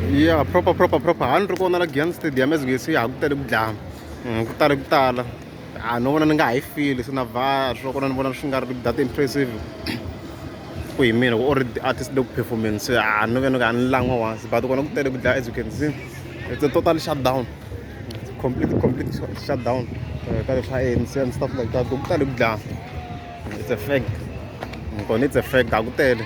ya proper proper proper a ni ri kona la giyan stadium as ngesi ha ku tale ku dlaya mm, ku tale ku tala a no vona ni nga ha yi fili se na va swa kona ni vona swi nga ri that impressive ku hi mina ku or artist le ku performance a no vena ka ni langwa once but kona ku tele ku dlaya as you can see it's a total shutdown complete complete shutdown eh, ka leswa ANC and stuff like that ku tale ku dlaya it's a fact kona it's a fact a ku tele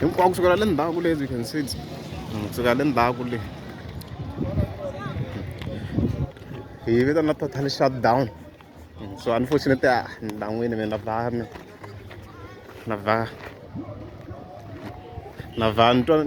hinkwako kusukela le ndzhaku le as you can see hmm, kusukela le ndzhaku le hi yi vitana total shut down hmm, so unfortunately a ah, ni lan'wini mina va na va na va ni twa